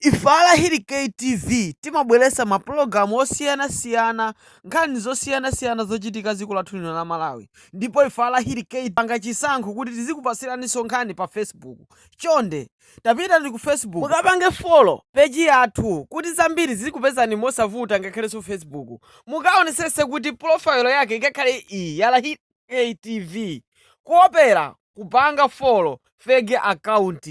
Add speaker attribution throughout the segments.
Speaker 1: Ife a Lahirikay TV timabweretsa ma program osiyana siyana, nkhani zosiyana siyana zochitika dziko lathu lino la Malawi ndipo ife a Lahirikay tapanga chisankho kuti tizikupatsiraninso nkhani pa Facebook chonde tapitani ku Facebook mukapange follow page yathu kuti zambiri zizikupezani mosavuta ngakhalenso Facebook mukaonetsetse kuti profile yake ikakhale iyi ya Lahirikay TV kuopera kupanga follow fake account.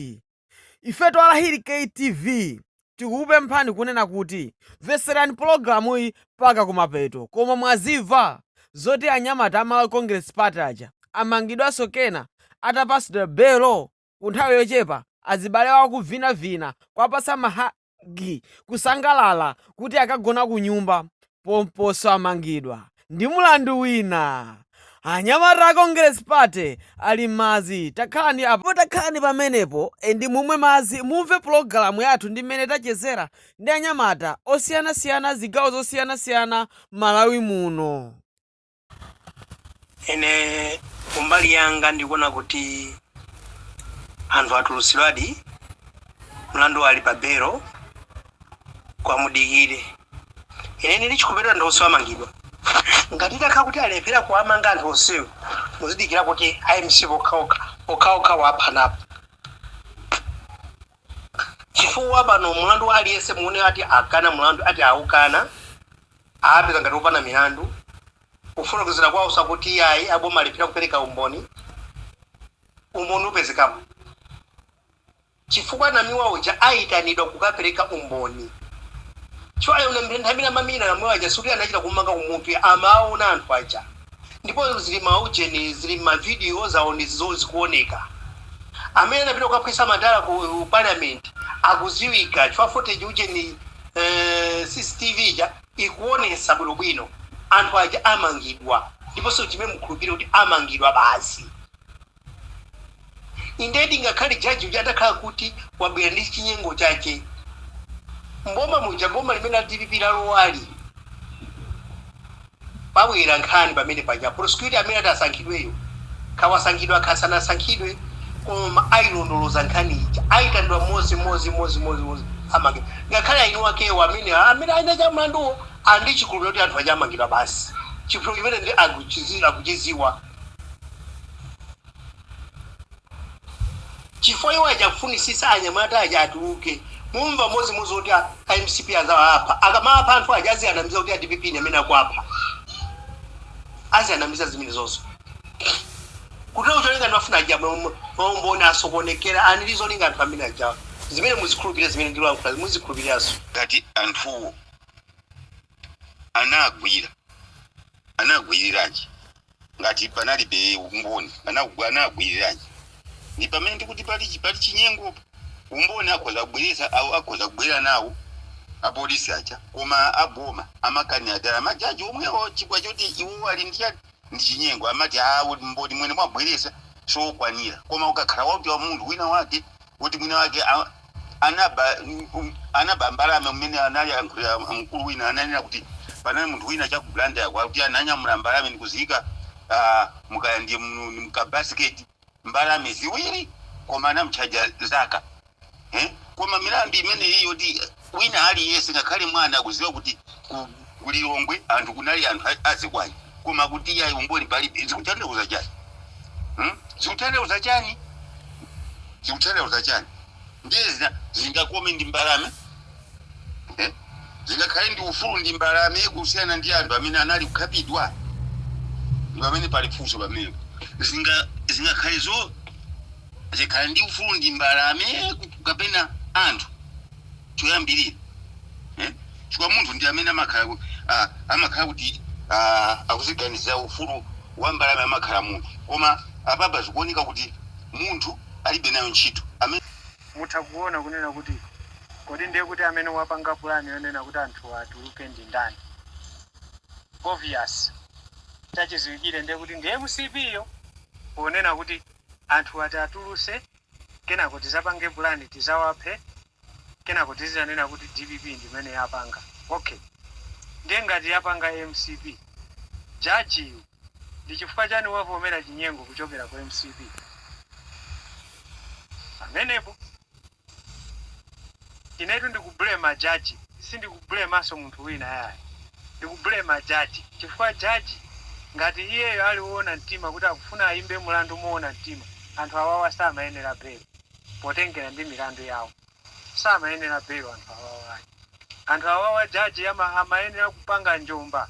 Speaker 1: Ifetu a Lahiri Kay TV tikukupemphani kunena kuti mvetserani pologalamuyi mpaka kumapeto koma mwazimva zoti anyamata a Malawi Congress Party aja amangidwanso kena atapatsidwa belo? Ku nthawi yochepa azibale awo akuvinavina kuwapatsa maha gi kusangalala kuti akagona kunyumba pomponso amangidwa ndi mulandu wina anyamata a congress party ali mmadzi takhalani apo takhalani pamenepo and mumwe madzi mumve pulogalamu yathu ndi mmene tachezera ndi anyamata osiyanasiyana zigawo zosiyanasiyana mmalawi muno.
Speaker 2: ine kumbali yanga ndikuona kuti anthu atulutsidwadi mlandu uli pa belo koma mudikire ine ndili chikupeta anthu onse amangidwa ngati takha kuti alephera kuwamanga anthu onsewo muzidikira kuti a mcp okhaokha okhaokha waphanapo chifukwa pano mulandu wa aliyense muone ati akana mulandu ati aukana aapeza ngati opanda milandu kufotokozera kwaonso akuti iyayi aboma alephera kupereka umboni umboni upezekapo chifukwa namiwa uja aitanidwa kukapereka umboni chifukwa nthawi imene amamenya namiwa aja sikuti anachita kumumanga kumutu amawaona anthu aja Ndipo ziri mma ujeni, ziri mma video, zawo nzozo zikuwoneka. Amene anapita kukaphwisa matayala ku Parliament akudziwika, chifukwa footage, ujeni, uh, CCTV ija ikuwonetsa bwinobwino. Anthu aja amangidwa, ndiponso chimene mukhulupirire kuti amangidwa basi. Indedi ngakhale judge uja atakhala kuti wabwera ndi chinyengo chake mboma muja boma limene la dpp lalowalo pabwera nkhani pamene paja prosecutor amene ati asankhidweyo kawasankhidwa kasanasankhidwe koma ayilondoloza nkhani ija ayitanidwa mmodzi mmodzi mmodzi mmodzi mmodzi amangidwa ngakhale eni akewo amene amene eni ake a mlanduwo ali ndi chikhulupiriro kuti anthu aja amangidwa basi chifukwa chimene ndi akuchizi- akuchiziwa Chifukwa iwo aja akufunisitsa anyamata aja atuluke mumva mmodzimmodzi kuti a mcp azawapha akamawapha anthu aja azianamiza kuti a dpp ndi amene akuwapha azianamiza zimenezozo kutero cholinga ndikufuna aja maumboni asokonekere and ndi zolinga anthu amene ajawa zimene muzikhulupirira zimene ndilankhula muzikhulupiriranso ngati anthuwo
Speaker 3: anagwira, anagwiriranji ngati panalibe umboni? Anagwa, anagwiriranji? Ndi pamene ndikuti pali, pali chinyengopo. Umboni akhoza kubweretsa, akhoza kubwera nawo apolisi aja, koma aboma amakanira dala, majaji omwewo, chifukwa choti iwowo ali ndi chani? ndi chinyengo amati umboni umene mwabweretsa siokwanira koma ukakhala woti wa munthu wina wake kuti mwina wake a, anaba um, anaba mbalame mmene analankhulira mkulu wina ananena kuti panali munthu wina cha ku Blantyre kwa kuti ananyamula mbalame ndikuziyika uh, mukaya ndiye mu- mkabasiketi mbalame ziwiri koma anamutchaja zaka eh? koma milandu imeneyi yoti wina aliyense ngakhale mwana akuziwa kuti ku, ku lilongwe anthu kunali anthu a- azikwanje koma kuti iyayi umboni palibe zikutanthauza chani hmm? zikutanthauza chani zikutanthauza chani ndiye zinga zingakome ndi mbalame Zingakhale ndi ufulu ndi mbalame kusiyana ndi anthu amene anali kukhapidwa? Ndi pamene pali funso pamenepo. Zinga zingakhale zo zikhala ndi ufulu ndi mbalame kapena anthu choyambirira eh? chifukwa munthu ndi amene amakhala ku- ah, amakhala kuti ah, akuziganizira ufulu wa mbalame amakhala munthu koma apapa zikuoneka kuti munthu alibe nayo ntchito amene Mutha kuona
Speaker 4: kunena kuti kodi ndiye kuti amene wapanga plan yonena kuti anthuwa atuluke ndi ndani? Obvious. Chachiziwikire ndiye kuti ndi mcp yo ponena kuti anthuwa tiatuluse kenako tizapange plan tizawaphe kenako tizizanena kuti dpp ndi imene yapanga. Ok. Ndiye ngati yapanga mcp, judge yu. Ndi chifukwa chani wavomera chinyengo kuchokera ku mcp pamenepo? Inetu ndikublema judge sindikublemanso munthu wina yayi ndikublema judge chifukwa judge ngati iyeyo ali owona mtima kuti akufuna ayimbe mulandu mowona mtima anthu awawa samayenera belo potengera ndi milandu yawo. samayenera bail anthu awawa ayi anthu awawa judge amayenera kupanga njomba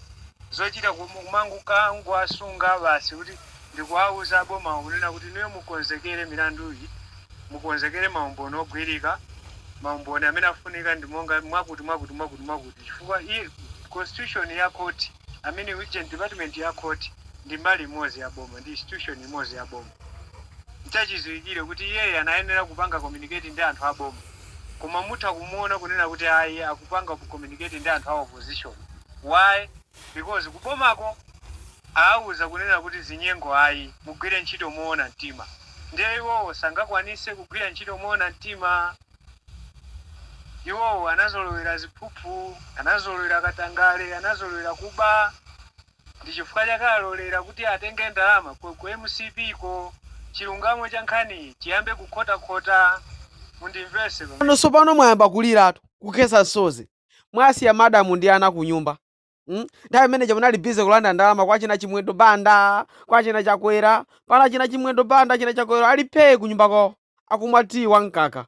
Speaker 4: zochita kumangowasunga basi kuti ndikuwauza abomawo kunena kuti inuyo mukonzekere milanduyi mukonzekere maumboni ogwirika maumboni amene afunika ndi monga mwakuti mwakuti mwakuti mwakuti chifukwa i constitution ya court amene uje department ya court ndi mbali imodzi ya boma ndi institution imodzi ya boma Nchachiziwikile kuti iyeyi anayenera kupanga communicate ndi anthu a boma koma mutha kumuona kunena kuti ayi akupanga communicate ndi anthu a opposition why? Because ku bomako aauza kunena kuti zinyengo ayi mugwire ntchito moona mtima ndiye iwowo sangakwanise kugwira ntchito moona mtima? Iwowo anazolowera ziphuphu, anazolowera katangale, anazolowera kuba. Ndi chifukwa chake alolera kuti atenge ndalama ku mcp ko chilungamo cha nkhaniyi chiyambe kukhotakhota. Mundimvese pano. Inu nonse
Speaker 1: pano mwayamba kuliratu, kukhetsa msozi. Mwasiya madam ndi ana kunyumba. mm? Nthawi imene ija munali busy kulanda ndalama kwa achina Chimwendo Banda, kwa achina Chakwera. Pano achina Chimwendo Banda, achina Chakwera ali phee kunyumba kwao akumwa tea wa mkaka.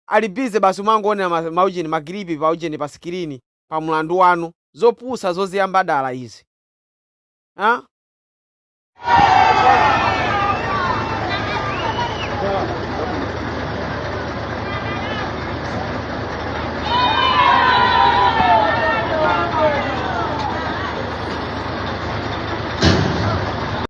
Speaker 1: Ali busy basi kumangoonera ma, maujeni, ma clip pa ujeni pa screen. pa mulandu wanu. zopusa zoziyamba dala izi ah?